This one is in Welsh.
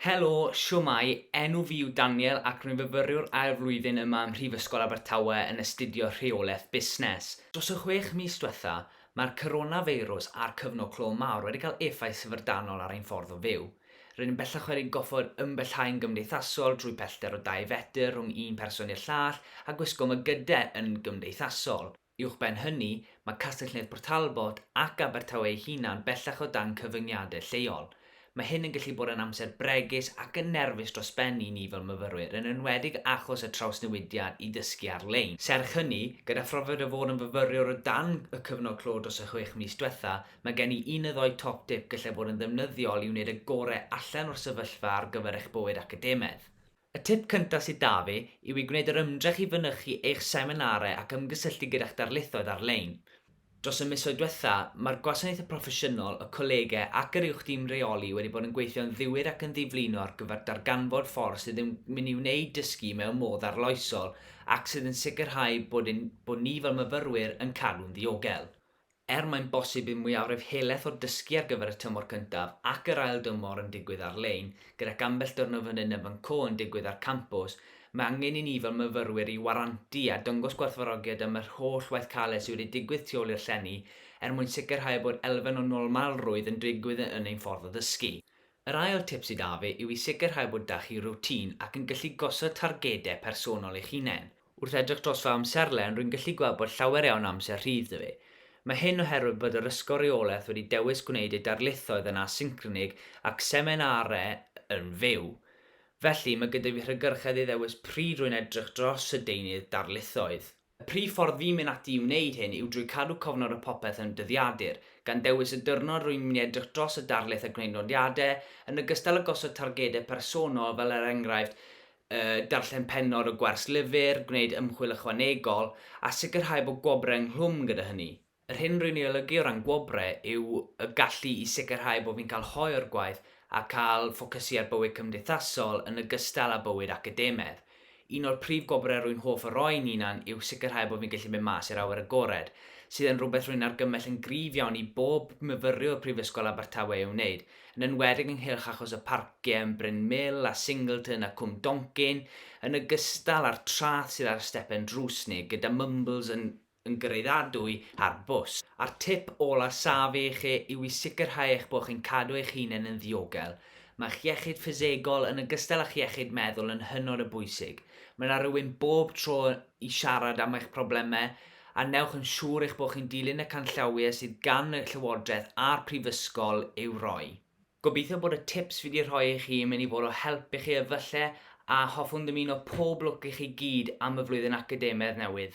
Helo, shwmae, enw fi yw Daniel ac rwy'n fyfyriwr ail flwyddyn yma ym Mhrifysgol Abertawe yn astudio Rheolaeth Busnes. Dros y chwech mis diwetha', mae'r coronafeirws a'r cyfnod clo mawr wedi cael effaith syfrdanol ar ein ffordd o fyw. Rydyn yn bellach wedi goffod ymbellhau'n gymdeithasol drwy pellter o dau fetr rhwng un person i'r llall a gwisgo mygyde yn gymdeithasol. Uwchben hynny, mae Castell Nedd Port Talbot ac Abertawe ei hunan bellach o dan cyfyngiadau lleol. Mae hyn yn gallu bod yn amser bregus ac yn nerfus dros ben i ni fel myfyrwyr, yn enwedig achos y trawsnewidiad i ddysgu ar-lein. Serch hynny, gyda phrofiad o fod yn fyfyriwr o dan y cyfnod clo dros y chwech mis diwetha', mae gen i un neu ddou top tip gallai fod yn ddefnyddiol i wneud y gorau allan o'r sefyllfa ar gyfer eich bywyd academaidd. Y tip cyntaf sydd 'da fi yw i gwneud yr ymdrech i fynychu eich seminarau ac ymgysylltu gyda'ch darlithoedd ar-lein. Dros y misoedd diwetha', mae'r gwasanaeth y proffesiynol, y colegau ac yr Uwch Dîm Rheoli wedi bod yn gweithio'n ddiwyd ac yn ddiflino ar gyfer darganfod ffordd sydd yn mynd i wneud dysgu mewn modd arloesol ac sydd yn sicrhau bod ein bod ni fel myfyrwyr yn cadw'n ddiogel. Er mae'n bosib i'r mwyafrif helaeth o dysgu ar gyfer y tymor cyntaf ac yr ail dymor yn digwydd ar-lein, gydag ambell dyrnod fan hyn a fan co yn digwydd ar campws, mae angen i ni fel myfyrwyr i warantu a dangos gwerthfawrogiad am yr holl waith caled sydd wedi digwydd tu ôl i'r llenni er mwyn sicrhau bod elfen o normalrwydd yn digwydd yn ein ffordd o ddysgu. Yr ail tip sydd 'da fi yw i sicrhau bod 'da chi routine ac yn gallu gosod targedau personol eich hunain. Wrth edrych dros fy amserlen, rwy'n gallu gweld bod llawer iawn o amser rhydd 'da fi. Mae hyn oherwydd bod yr Ysgol Reolaeth wedi dewis gwneud ei darlithoedd yn asyncronig ac seminarau yn fyw. Felly, mae gyda fi hygyrchedd i ddewis pryd rwy'n edrych dros y deunydd darlithoedd. Y prif ffordd fi'n mynd ati i wneud hyn yw drwy cadw cofnod o popeth yn dyddiadur, gan ddewis y diwrnod rwy'n mynd i edrych dros y darlith a gwneud nodiadau, yn ogystal â gosod targedau personol fel er enghraifft darllen pennod o gwers lyfr, gwneud ymchwil ychwanegol, a sicrhau bod gwobrau ynghlwm gyda hynny. Yr hyn rwy'n ei olygu o ran gwobrau yw y gallu i sicrhau bod fi'n cael hoe o'r gwaith a cael ffocysu ar bywyd cymdeithasol yn ogystal â bywyd academaidd. Un o'r prif gwobrau rwy'n hoff o roi'n hunan yw sicrhau bod fi'n gallu mynd mas i'r awyr agored, sydd yn rhywbeth rwy'n argymell yn gryf iawn i bob myfyriwr Prifysgol Abertawe ei wneud, yn enwedig ynghylch achos y parciau yn Bryn Mill a Singleton a Cwm Doncyn, yn ogystal â'r traeth sydd ar y stepen drws neu gyda mumbles yn yn gyraeddadwy â'r bws. A'r tip ola saf i chi yw i sicrhau eich bod chi'n cadw eich hunain yn ddiogel. Mae'ch iechyd ffisegol, yn ogystal â'ch iechyd meddwl yn hynod o bwysig. Mae 'na rywun bob tro i siarad am eich problemau, a wnewch yn siŵr eich bod chi'n dilyn y canllawiau sydd gan y Llywodraeth a'r Prifysgol i'w roi. Gobeithio bod y tips fi 'di rhoi i chi yn mynd i fod o help i chi efallai a hoffwn ddymuno pob lwc i chi gyd am y flwyddyn academaidd newydd.